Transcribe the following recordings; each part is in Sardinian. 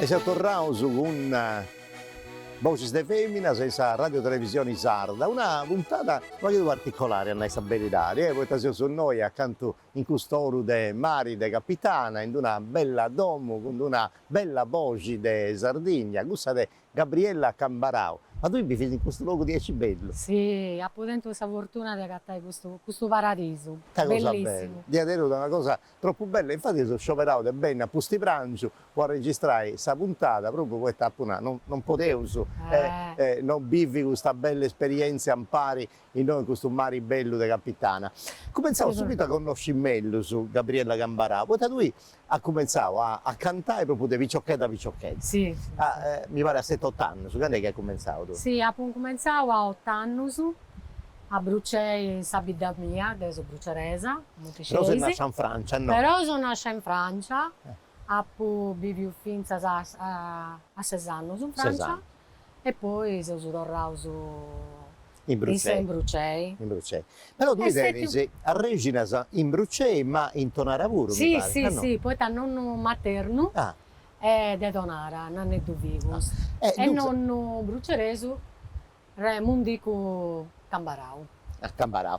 E seus torraus cun Boxis de Feminas in sa Radio Televisioni Sarda, una puntada unu pagu particolari a nai sa beridadi, e poita seus innoi acantu in cust'oru de mari de Capitana, in d'una bella domu cun d'una bella boxi de Sardigna, cussa de Gabriella Cambarau, Ma tui bivis in custu logu diaici bellu? Si, apu tentu sa fortuna de agatai custu custu paradisu. Ita cosa bella! Bellissimu. Diaderus una cosa tropu bella e infatis eus scioberau de benni a Pustiprangiu po arregistrai sa puntada propriu poita apu nau, non non podeus non bivi custa bella esperientzia impari innoi in custu mari bellu de Capitana. Cumentzaus subitu a connosci mellus Gabriella Cambarau, poita tui at cumentzau a a cantai propriu de piciochedda piciochedda. Si, si. Mi pari a seti otu annus, candu est chi at cumentzau tui? Si, apu incumentzau a otu annus a Brucei sa bidda mia, deu seu bruceresa, cumenti scis. Però ses nascia in Francia, no? Però seu nascia in Francia, apu biviu fintzas a a ses annus in Francia. e poi seus torraus in Brucei, però tui tenis arrexinas in Brucei ma in Tonara puru mi parit, si si si, poita nonnu maternu est de Tonara, Nanneddu Figus, e nonnu bruceresu Mundicu Cambarau. Cambarau,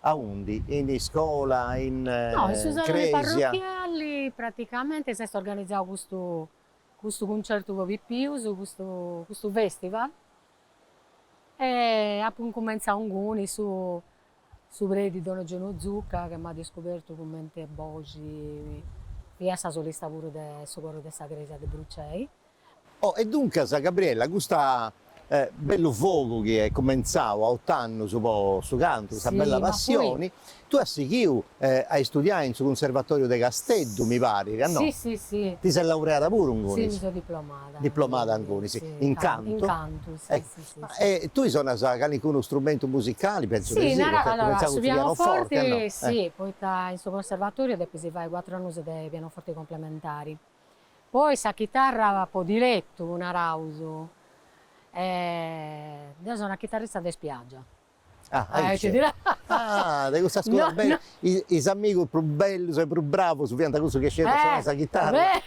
Aundi? In iscola? In No, in su salone parrochiali praticamenti s'est organizzau custu custu cuncertu po pipius, custu custu festival e apu incumentzau inguni, su su predi Don Eugenio Zucca che m'at iscubertu cumenti boxi, femu sa solista puru de su coru de sa crèsia de Brucei Oh, e duncas, Gabriella, custa, eh, bellu fogu chi est cumentzau a ot'annus po su cantu, custa Si, bella ma poi. passioni, tui as sighiu, eh, a istudiai in su Cunservatoriu de Casteddu, mi parit, a no? Si, si, si. Ti ses laureada puru ingunis? Si, mi seu diplomada. Diplomada ingunis. Si, in cantu? In cantu, si, si, si, si. Ma, eh, tui sonas calincunu strumentu musicali? Pentzu de Si, si, naraus, poita est allora, cumentzau su cun su pianoforti, a no? pianoforti, Eh. si, poita in su Conservatoriu depis fai cuatru annus de pianoforti complementari. Poi sa chitarra po dilettu, naraus. Deu seu una chitarrista de spiaggia. Ah, aici. Ah, de cussas cosas bellas. Is amigus prus bellus e prus bravus fiant cussus chi scidiant sonai sa chitarra.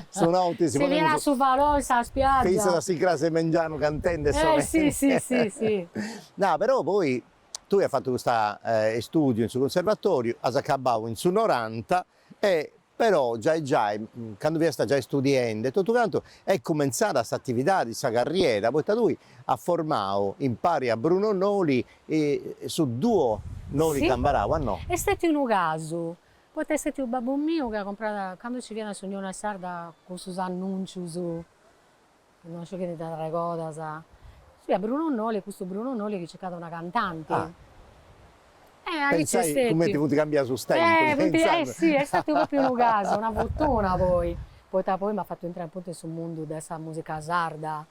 Sonànt issus. Si fiat a su falò in sa spiaggia. Fintzas a s'incràs 'e mengianu cantendi e sonai. Si, si, si, si. Nah, però poi tui as fatu custa, istùdiu in su cunservatoriu, as acabau in su noranta e Però giai giai, candu fiasta giai studiende e totu cantu, est cumentzada s'atividadi, sa carriera, poita tui as formau, impari a Bruno Noli, su duo Noli Cambarau, a no? Est stètiu unu casu, poita est stètiu babbu miu chi at comprau, candu nci fiat s'Unioni Sarda cun cussus annùncius Non sciu chi ti nd'arregodas. Si, a Bruno Noli, custu Bruno Noli chi circat una cantanti. Ah. Eh, aici est stetiu. Cumenti funt cambiaus is tempus. Eh, funt, eh si, est stetiu propriu unu casu, una fortuna poi, poita poi m'at fatu intrai apuntu in su mundu de sa musica sarda.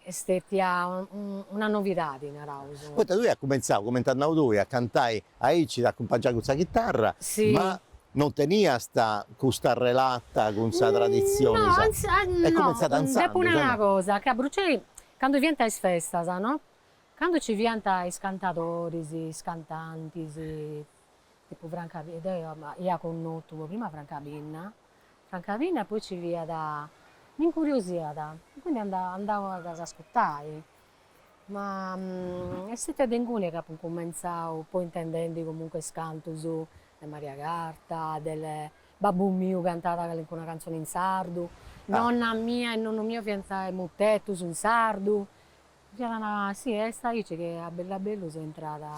Est stetia una novidadi, naraus. Poita tui as cumentzau, cumenti as nau tui, a cantai Aici t'acumpangiai cun sa chitarra, ma non teniast custa relata cun sa traditzioni, sa. Est cumentzada intzandus. Depu nai una cosa, chi a Brucei candu fiant is festas, no, candu nci fiant is cantadoris, is cantantis, tipu Franca Pinna, deu ia connotu po prima Franca Pinna, Franca Pinna e poi nci fiat, m'incuriosiat e quindi andau ad ascutai Ma est stètia de inguni chi apu incumentzau poi intendendi comunque is cantus de Maria Carta, de babbu miu cantat calincuna cantzoni in sardu, nonna mia e nonnu miu faiant mutetus in sardu, fiat una, si est aici chi a bellu a bellu seu intrada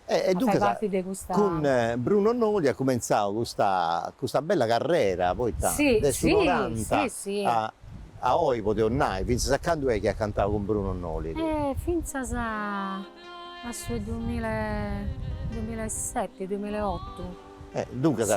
a fai parti de custa. E duncas cun Bruno Noli as cumentzau custa custa bella carrera poita de su noranta a oi podeus nai, fintzas a candu est chi as cantau cun Bruno Noli? Fintzas a su dumila e dumila e seti, dumila e otu. Duncas.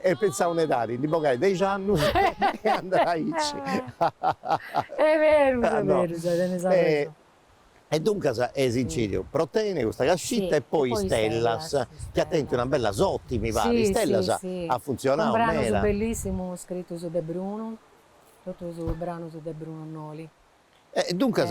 E pentzau in edadi, ndi bogai dexi annus e andai aici. Est berus, est berus, tenis arrexoni. E duncas eis incìdiu Pro tene custa cascita e poi Istellas, chi at tentu una bella sorti mi parit, Istellas at funtzionau meda. Cun branus bellissimus scritus de Brunu, totus branus de Brunu Noli. E duncas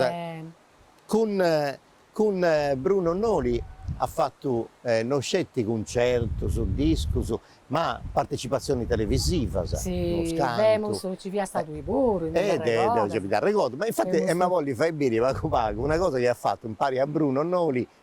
cun cun Bruno Noli as fatu non sceti cuncertus, discus, ma partecipatzionis televisivas, si, femus, nci fiat stadu puru, mi nd'arregordo, mi nd'arregordo, ma infati ema bolli fai biri pagu pagu una cosa chi as fatu impari a Bruno Noli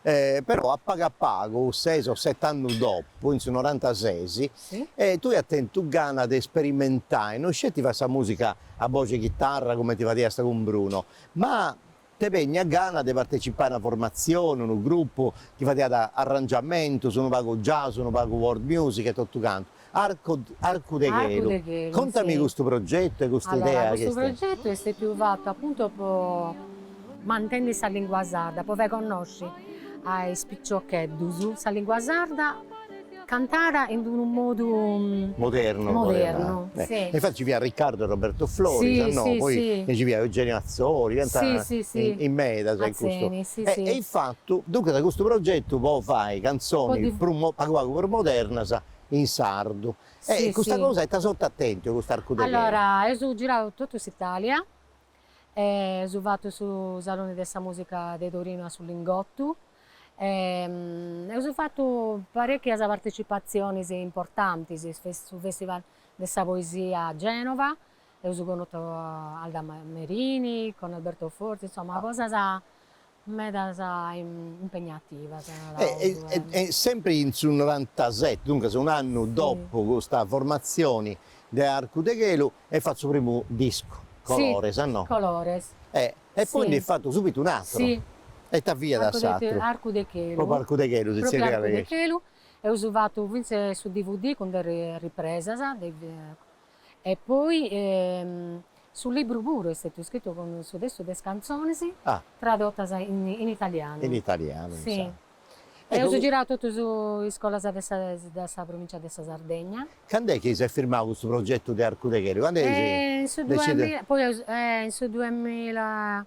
Però a pagu a pagu, ses o sete annus dopu, in su norantases, tui as tentu gana de sperimentai, no sceti fai sa musica a boxi 'e chitarra cumenti fadiasta cun Bruno, ma t'est bènnia gana de partecipai a una formatzioni, unu grupu chi fadiat arrangiamentus, unu pagu jazz, unu pagu world music e totu cantu. Arcu arcu de chelu. Contami custu progetu e custa idea chi est? Custu progetu est stetiu fatu apuntu po mantenni sa lingua sarda, po fai connosci a is piciocheddus sa lingua sarda cantada in d'unu modu modernu poderiat nai. Si. E infattis ci fiat Riccardo e Roberto Floris, a no, poi nci fiat Eugenia Atzori, fiant in medas in custu. Atzeni, si si. E infatu duncas custu progetu po fai canzonis prus pagu pagu prus modernas in sardu. E custa cosa ita sorti at tentu 'e custu arcu de chelu? Allora, eus girau totu s'Italia, eus fatu su Salone de sa Musica de Torino a su Lingottu, eus fatu parecchias partecipatzionis importantis, su Festival de sa Poesia a Genova, eus connotu Alda Merini, con Alberto Forti, insomma cosas Medas impegnativas, naràus. E sempri in su norantaseti, duncas un'annu dopu custa formatzioni de Arcu de Chelu, est fatu su primu discu, Colores, a no? Colores. E poi ndi est fatu subitu un'atru. E ita fiat s'atru? Arcu de Chelu. Propriu Arcu de Chelu si zerriat Arcu de Chelu. Eus fatu fintzas su dvd cun de ripresas de E poi su libru puru est stetiu scritu cun su testu de is cantzonis tradotas in italianu. In italianu, insoma. Eus girau totus is iscolas de sa de sa provincia de sa Sardegna. Candu est chi s'est firmau custu progetu de Arcu de Chelu? Candu eis decidiu? In su duemila, poi eus in su duemila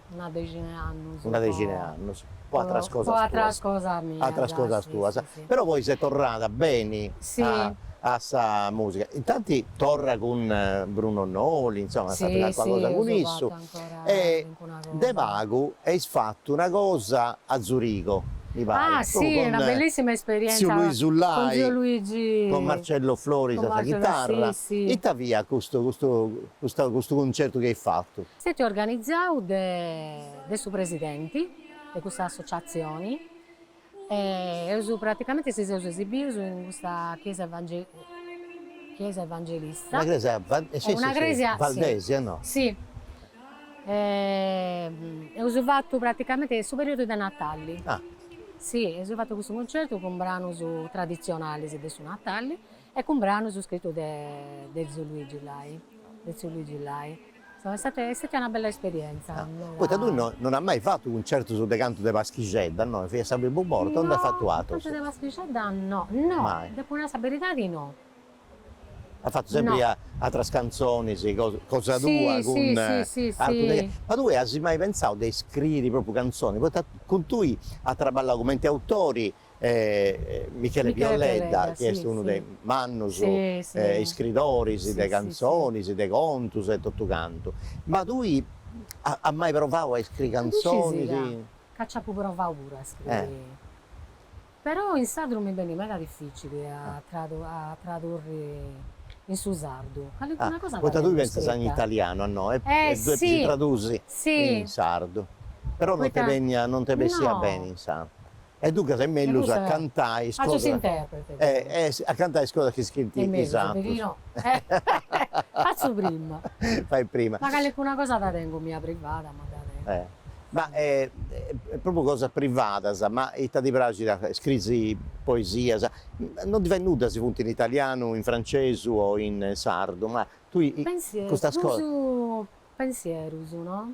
Una dexina 'e annos. Una dexina 'e annos, poi atteras cosas tuas. Poi atteras cosas mias. Atteras cosas tuas. Però poi ses torrada beni a sa musica. Intanti torra cun Bruno Noli, insomma, as fattu calcuna cosa cun issu. E de pagu eis fattu una cosa a Zurigo, mi parit. Ah si, una bellissima esperienza. Con Luisu Lai. Con zio Luigi. Con Marcello Floris a sa chitarra. Ita fiat custu custu custu cuncertu chi eis fattu? Est stetiu organizau de de su presidenti de custa associatzioni e eus praticamenti si seus esibius in custa chiesa chiesa evangelista. Una cresia sì sì sì valdesa no. Sì e eus fatu praticamenti in su periudu de natali. Ah. Sì eus fatu custu concertu cun branus traditzionalis de su natali E cun branus scritus de de tziu Luigi Lai, de tziu Luigi Lai. Est stata est stata una bella esperienza, meda. Poita tui no non as mai fatu cuncertus de cantu de paschixedda, no? Fiat sa primu borta o nd'as fatu atrus? No, cantu de paschixedda no, no, depu nai sa beridadi no. As fatu sempri atras cantzonis, cosa cosa tua cun Arcu de. Ma tui as mai pensau de iscriri propriu cantzoni, poita cun tui at traballau cumenti autori E Michele Piolledda chi est unu de mannos iscritoris de cantzonis, de contos e totu cantu. Ma tui as mai provadu a iscriri cantzonis? Ca nci apu provadu puru a iscriri, però in sardu mi benit meda dificili a tradurri in su sardu, calicuna cosa dda tengu iscrita. Poita tui pentzas in italianu no e ddu depis tradusi in sardu, però non ti bessit beni in sardu. E duncas est mellus a cantai is cosas. Fatzu s'interprete deu. A cantai is cosas chi scriint is atrus. Fatzu prima. Fai prima. Mancai alcuna cosa dda tengu mia privada, ma dda tengu. Ma propriu cosas privadas, ma ita ti praxit a fai, scriis poesias, non ti fait nudda si funt in italianu, in francesu o in sardu, ma tui custas cosas. Pensierus, pensierus no.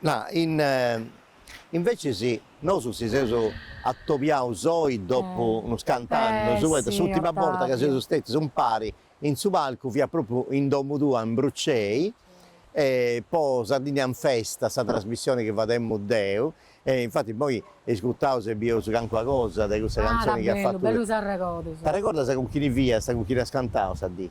No invecis nosu si seus atobiaus oi dopu unus cant'annus, poita s'ùrtima borta chi seus stètius impari in su palcu fiat pròpriu in domu tua in Burcei, po Sardigna in Festa, sa trasmissioni chi fademu deu, e infati apoi iscutaus e bieus calincuna cosa de cussa cantzoni chi as fatu. Bellu, bellus arregodus. T'arregordas cun chini fiast, cun chini as cantau sa dì?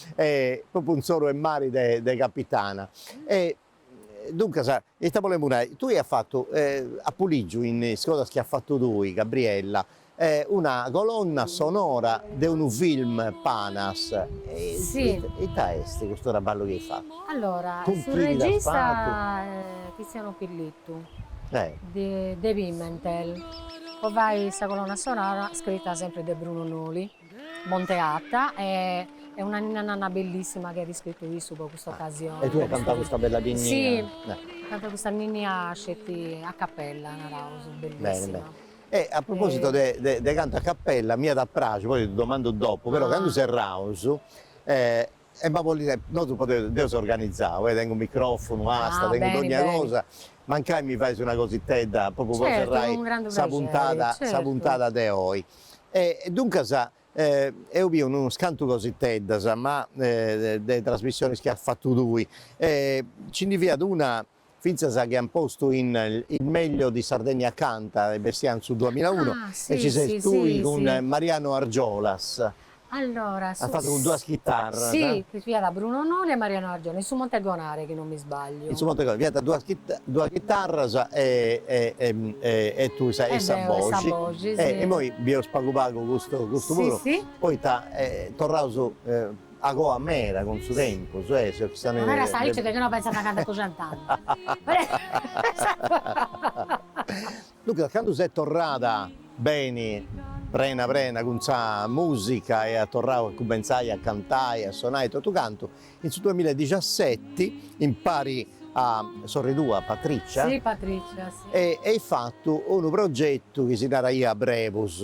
E propriu in s'oru 'e mari de Capitana. E duncas, ita bolemu nai, tui as fatu, apu ligiu in is cosas chi as fatu tui, Gabriella, una colonna sonora de unu film panas. Si. Ita est custu traballu chi as fatu? Allora, su regista est Tiziano Pillitu, de Pimentel, po fai sa colonna sonora scrita sempri de Bruno Noli. Monteatta e est una ninna nanna bellissima chi at iscrittu issu po custa occasione. E tui cantas custa bella ninnia. Si, cantu custa ninnia sceti a cappella naraus, bellissima. Bene bene. E a proposito de de de cantu a cappella m'at a praxi, poi ti domandu dopu, però candu serraus E ma bolit, nosu podeus, deu seu organizau, e tengu microfunu, asta, tengu dogna cosa, mancai mi fais una cositedda propriu po serrai sa puntada, sa puntada de oi. E duncas eus biu unus cantu cositeddas, ma de trasmissionis chi as fatu tui, e nci ndi fiat una fintzas chi an postu in Il meglio di Sardegna canta e bessiat in su duamilaunu e ci ses tui cun Mariano Argiolas, as fatu cun duas chitarras. Si, chi fiat Bruno Noli e Mariano Argiolas, in su Monte Gonare chi non mi sbagliu. In su Monte Gonare, fiant duas duas chitarras e e tui sa e sa boxi e immoi bieus pagu pagu custu custu puru poita torraus Acoa mera cun su tempus e si sa neve. Mera sa ite de chi no pensat a cantu cuscent'annu. Duncas candu ses torrada beni prena prena cun sa musica e as torrau a cumenzai a cantai a sonai totu cantu in su duamilla e dixiaseti impari a sorri tua Patrizia. Si Patrizia si. E eis fatu unu progetu chi si naraiat Brebus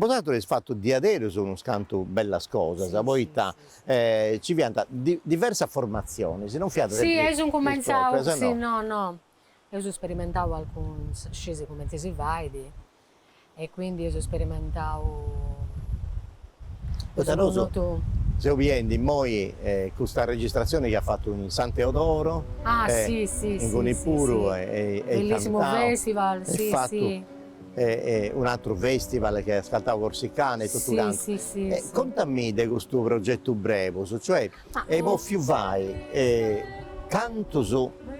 Bosatrus eis fatu diaderus unos cantu bellas cosas poita ci fiant diversas formatzionis, non fiant sempri is proprias o no? No no, eus sperimentau alcunas, scesi cumenti si fait e quindi eus sperimentau poita nosu seu biendi immoi custa registratzioni chi as fatu in San Teodoro e inguni puru e at cantau e fatu Un'atru festival che as cantau Corsicana e totu cantu. Si si si. Contami de custu progetu Brebus, cioè eis bofiu fai cantus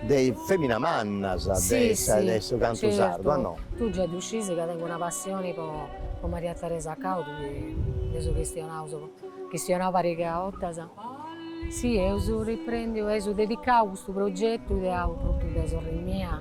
de is feminas mannas de su cantu sardu a no? Tu già ddu scisi ca tengu una passioni po Maria Teresa Cau de chi nd'eus chistionaus chistionau pariga 'ottas. Si eus riprendiu, eus dedicau custu progetu ideau prus de sorri mia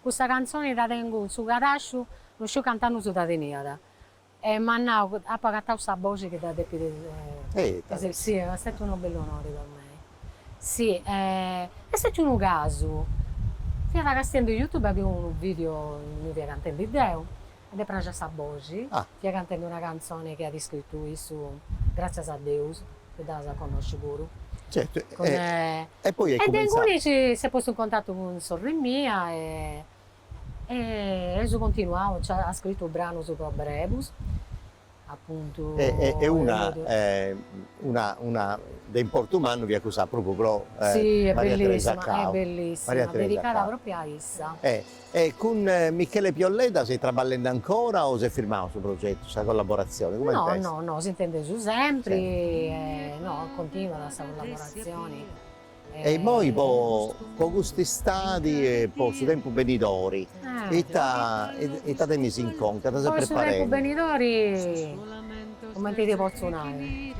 Custa cantzoni dda tengu in su cadasciu, no sciu cant'annus dda teniat. E m'at nau, apu agatau sa boxi chi dda depit essi. Si, est stetiu unu bellu onori po mei. Si, est stetiu unu casu, fiat castiendi in youtube, at biu unu video innui fia cantendi deu, E dd'est praxa sa boxi. Fia cantende una cantzone chi at iscritu issu, gratzias a Deus chi dda as a connosci puru. Certu, e poi est cumentzau. E de ingunis s'est postu in contatu cun sorri mia e eus continuau, cioè at scritu branus po Brebus. Apuntu e una una una de importu mannu fiat cussa propriu pro Maria Teresa Cau, Maria Teresa Cau, propriu a issa. E e cun Michele Pio Ledda seis traballende ancora o s'est firmau su progetu, sa collaboratzioni, cumenti est? No no no, s'intendeus sempri e no continuat sa collaboratzioni E immoi po po cust'istadi e po su tempus benidori ita ita tenis in conca, ita ses preparende? Po su tempus benidori cumenti ti potzu nai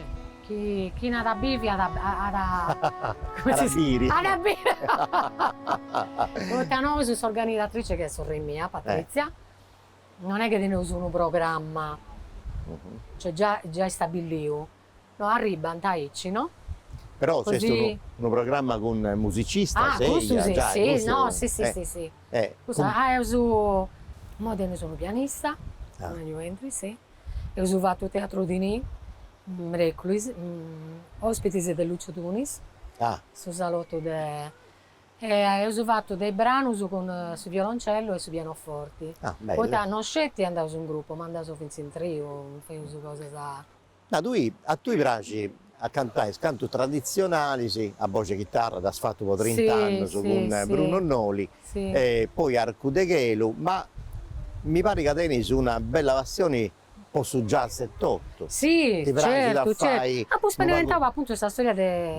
chi chini at a bivi at at at a biri at a biri poita nosu s'organizatrice chi est sorri mia Patrizia non est chi teneus unu programma, cioè già già istabilliu No arribbant aici no. Però s'est unu programma cun musicistas e eja giai custu. Ah cussu no sì sì sì sì cussu ah nosus immoi teneus unu pianista Antonio Endri sì eus fatu Teatru di Ni mereculis ospitis de Lucio Tunis su salotu de e eus fatu de branus cun su violoncellu e su pianoforti poita no sceti andaus in gruppo ma andaus finzas in triu feus cosas Ma tui a tui praxit a cantai is cantus traditzionalis a boxi e chitarra, dd'as fatu po trint'annus cun Bruno Noli e poi Arcu de Chelu, ma mi parit ca tenis una bella passioni po su jazz etotu, ti praxit a fai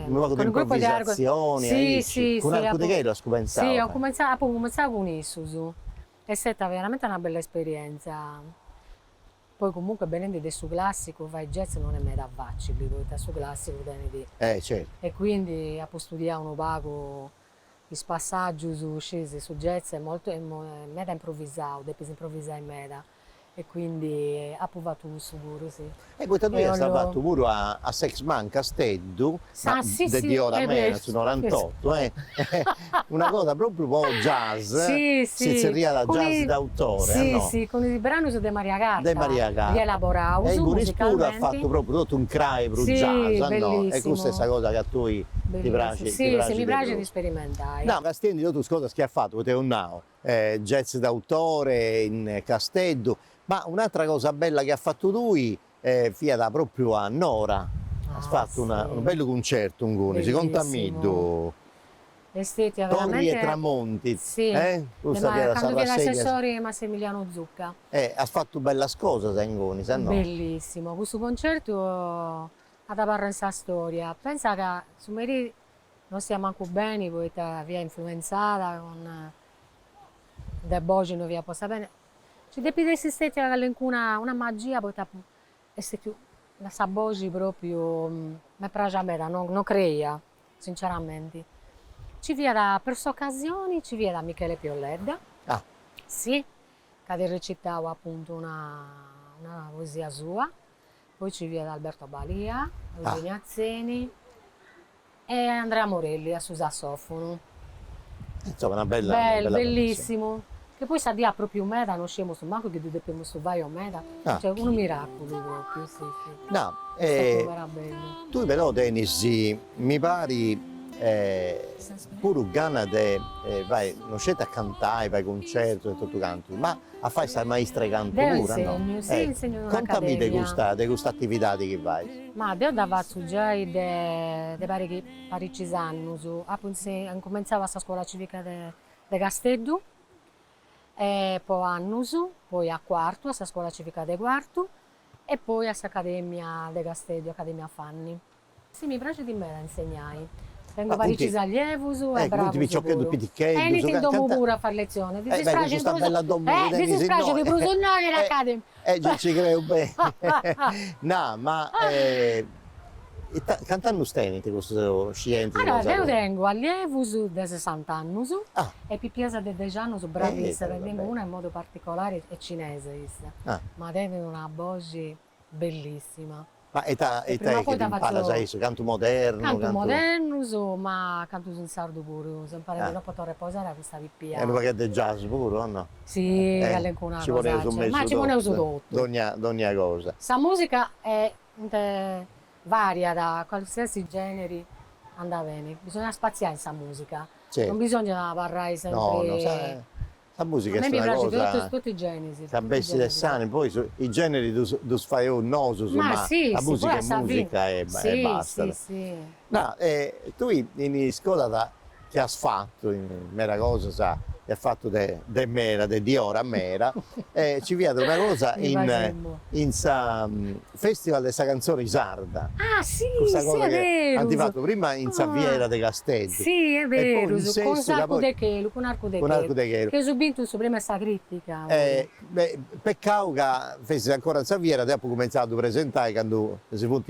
unu pagu de improvvisatzioni aici, cun Arcu de Chelu as cumenzau a fai? Apu cumenzau cun issus, est steta veramenti una bella esperienza, Poi comunque benendi de su classicu fai jazz non est meda facili poita su classicu tenit Eh certu. E quindi apu studiau unu pagu is passaggius, scis su jazz est molto est meda improvisau, depis improvisai meda e quindi apu fatu cussu puru sì. Eh poita tui as fatu puru a Sexman Casteddu Ma de diora meda su norantotto eh una cosa propriu po jazz si zerriat jazz d'autore a no? Sì sì cun is branus de Maria Carta rielaboraus musicalmenti. E ingunis puru as fatu propriu totu in crai prus jazz a no? E custa est sa cosa chi a tui ti praxit ti praxit de prus. Nou castiendi totu is cosas chi as fatu poita eus nau jazz d'autore in Casteddu ma un'atra cosa bella chi as fatu tui fiat propriu a Nora. As fatu una unu bellu cuncertu ingunis, contamiddu. Est stetia veramente. Torri e tramonti. Sì. E custa fiat sa Candu fiat assessori Massimilianu Zucca. E as fatu bellas cosas ingunis, a no? Bellissimu, custu concertu at abarrau in sa storia. Pensa ca su meri no stemu mancu beni poita fia influenzada cun sa boxi no fia posta beni. Nci depit essi stetia callencuna una magia poita est stetiu ma sa boxi propriu m'est praxia meda no no creia sinceramenti nci fiat per s'occasioni nci fiat Michele Pio Ledda ah sì ca at recitau appuntu una una poesia sua Poi nci fiat Alberto Balia, Eugenia Atzeni e Andrea Morelli a su sassofonu. Insoma una bella bella bellissimu che poi sa dì at propiu meda no sciemus mancu chi ddu depemus fai o mancu cioè unu miraculu propriu sì sì no e tui però tenis mi parit puru gana de fai no sceti a cantai fai cuncertus e totu cantu ma A fai sa maistra 'e cantu puru? Deu insegnu, si, insegnu in un'academia. Contami de custa, de custa atividadi chi fais. Ma deu dda fatzu giai de de parici paricis annus. Apu incumentzau a sa scuola civica de de Casteddu e po annus, poi a Cuartu a sa scuola civica de Cuartu e poi a s'academia de Casteddu, Academia Fanny. Si mi praxit meda a insegnai. Tengu paricis allievus e bravus puru. Benint in domu puru a fai letzionis. Ddis praxit prus ddis praxit prus innoi in academia. E gei nci creu beni. Na, ma ita cant'annus tenint custus scientis? Allora, deu tengu allievus de sessant'annus e pipias de dex'annus bravíssimas, tengu una in modu particolari est cinesa issa, ma tenit una boxi bellissima. Ma e ita e ita est chi ddis imparas a issus? Cantu modernu? Cantu. Cantus modernus, ma cantus in sardu puru, seu imparendi Ah. No potho reposare a custa pipia. E unu pagheddu de jazz puru o no? Si, calincuna cosa. Ci poneus in mesu. Ma ci poneus totu. Dogna dogna cosa. Sa musica est variada, qualsiasi generi andat beni, bisogna spaziai in sa musica. Certu. Non bisogna abarrai sempri. No no sa Sa musica est una cosa ca bessit de s'anima, poi is generi ddus faeus nosu, ma sa musica est musica e bastat. Ma tui in iscolas chi as fatu meda cosas, chi as fatu de meda, de diora meda, e ci fiat una cosa in sa Festival de sa cantzone sarda. Ah si, si est berus. Cussa cosa chi ant fatu prima in sa fiera de Casteddu. Si, est berus, cun s'Arcu de Chelu, cun Arcu de Chelu. Cun Arcu de Chelu. Chi eus bintu su prèmiu 'e sa crìtica puru. Peccau ca fessit ancora in sa fiera, deu apu cumentzau a ddu presentai candu si funt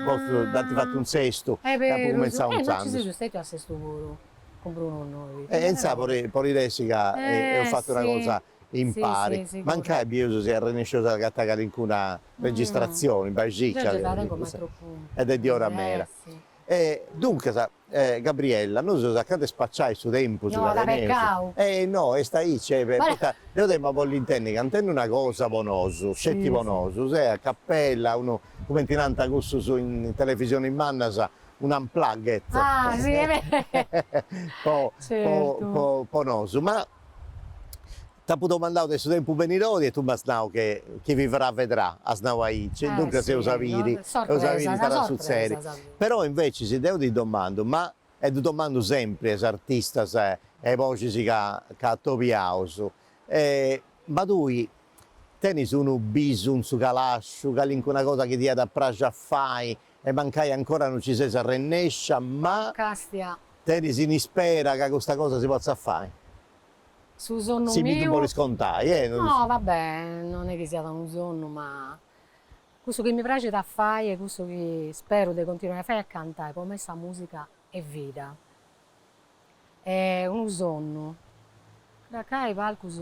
postus, dd'ant fatu in Sestu. Est berus. E apu cumentzau intzandus. E nosu seus stètius a Sestu puru, cun Brunu innoi. E intzandus podit essi ca eus fatu una cosa. impari. Mancai bieus si arrennesceus a agatai calincuna registratzioni, bai e circa, est de diora meda. E duncas, Gabriella, nosu seus acanta 'e spaciai su tempus ca teneus. Ehi no, est aici, poita deu t'emu a bolli intendi cantendu una cosa po nosu, sceti po nosu, a capella, unu, cumenti nant cussus in televisionis mannas, un unplugged, po nosu. Ma T'apu domandau de su tempus benidori e tui m'as nau che chi vivrà vedrà, as nau aici, duncas eus a biri, eus a biri ita at a sutzedi. Però invècis deu ti domandu, ma, e ddu domandu sempri a is artistas e a is boxis ca ca atobiaus, ma tui tenis unu bisu in su calàsciu, calincuna cosa chi ti iat a praxi a fai, e mancai ancora no ci ses arrennescia, ma. Castia. Tenis in ispera ca custa cosa si potzat fai. Su sonnu miu. Si mi ddu bolis contai, eh. No, va bè, non è chi siat unu sonnu, ma. Cussu chi mi praxit a fai est cussu chi speru de continuai a fai a cantai po mei sa musica est vida. Est unu sonnu. Dd'accai palcus.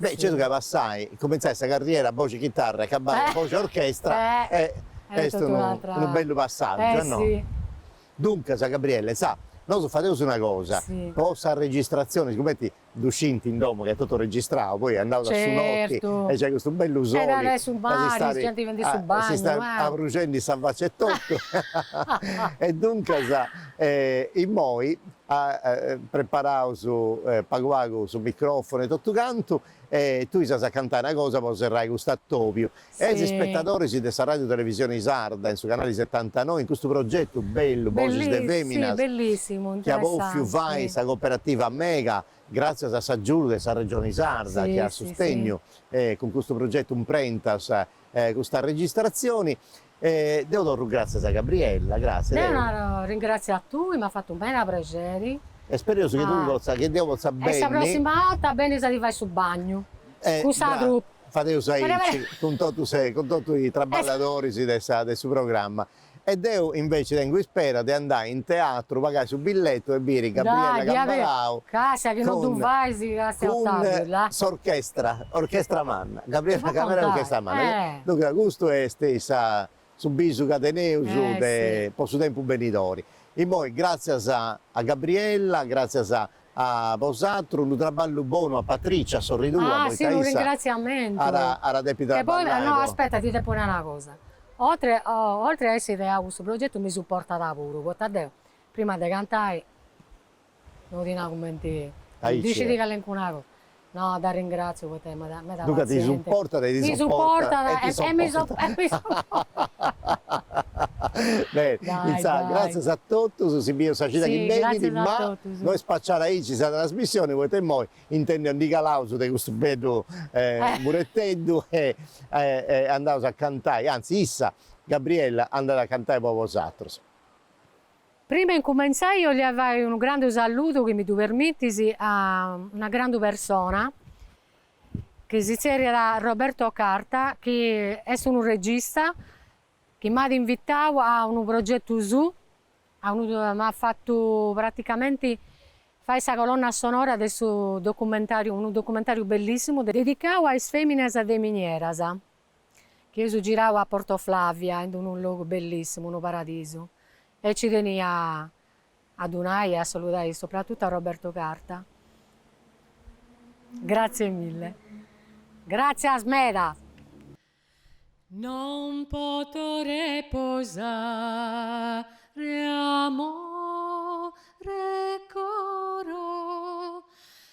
Beh, certu ca passai, cumintzai sa carriera boxi chitarra e acabai boxi orchestra e est unu bellu passàgiu no? Duncas, Gabriella, insaras, nosu fadeus una cosa, po sas registratzionis, cumenti ddu scint in domu ca est totu registrau, poi andaus a su noti e nc'est custu bellu soli, e a su mari, si stait abruxendi sa faci etotu, e duncas, immoi, preparaus pagu pagu su micròfonu e totu cantu e tui si as a cantai una cosa po serrai custu atobiu e is ispetadoris de sa Ràdiu Televisioni Sarda in su canali setantanoi in custu progetu bellu Boxis de Feminas chi at bòfiu fai sa Cooperativa Mega gràtzias a s'agiudu de sa Regioni Sarda chi at sustegnu cun custu progetu imprentas custa registratzioni E deu torru gràtzias a Gabriella, gràtzias. Deu naro arringratziu a tui, m'at fatu meda prexeri. E spereus chi tui potza, chi deu potza benni. E sa prossima 'orta bennis a ti fai su bagnu cun sa trupa. Fadeus aici cun totu sa, cun totu is traballadoris de sa, de su programma. E deu inveci tengu ispera de andai in teatru, pagai su billetu e biri Gabriella Cambalau. Castia chi no ddu fais castia Ottaviu, là. Cun s'orchestra, orchestra manna. Gabriella Cambalau orchestra manna, duncas custu est sa su bisu ca teneus de posu tempus benidori. Immoi gràtzias a Gabriella, gràtzias a a bosatrus, unu traballu bonu a Patricia, a sorri tua, poita issa. Ah si unu ringratziamentu. At a depi trabballai po. E poi no aspetta ti depu nai una cosa, oltre oltre a essi ideau custu progetu mi supportat puru, poita deu prima de cantai No ti naro cumenti dicit calencunu atru, no t'arringratziu poita est meda passienti. Duncas ti supportat e ti sopportat e mi sopportat. Intzà, gràtzias a totus, si bius sa cida chi benit, ma no est spaciada aici sa trasmissioni poita immoi in su mentris ndi calaus de custu bellu mureteddu e andaus a cantai, anzi issa Gabriella andat a cantai po bosatrus. Prima 'e incumentzai 'olia fai unu grandu salludu chi mi ddu permitis a una grandu persona chi si zerriat Roberto Carta chi est unu regista chi m'at invitau a unu progetu suu a unu m'at fatu praticamenti fai sa colonna sonora de su documentariu unu documentariu bellissimu dedicau a is feminas de minieras. Chi eus girau a Porto Flavia ind unu logu bellissimu, unu paradisu, e nci tenia a ddu nai e a saludai sopratutu a Roberto Carta. Grazie mille. Gratzias meda. Non poto reposare amore coro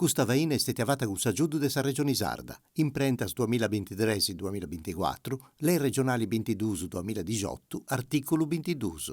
Custa faina est stètia fata cun s'agiudu de sa Regioni Sarda, imprentas duamilla bintitres duamilla binticuatru, Lei Regionali bintiduus duamilla dixiotu, artìculu bintiduus.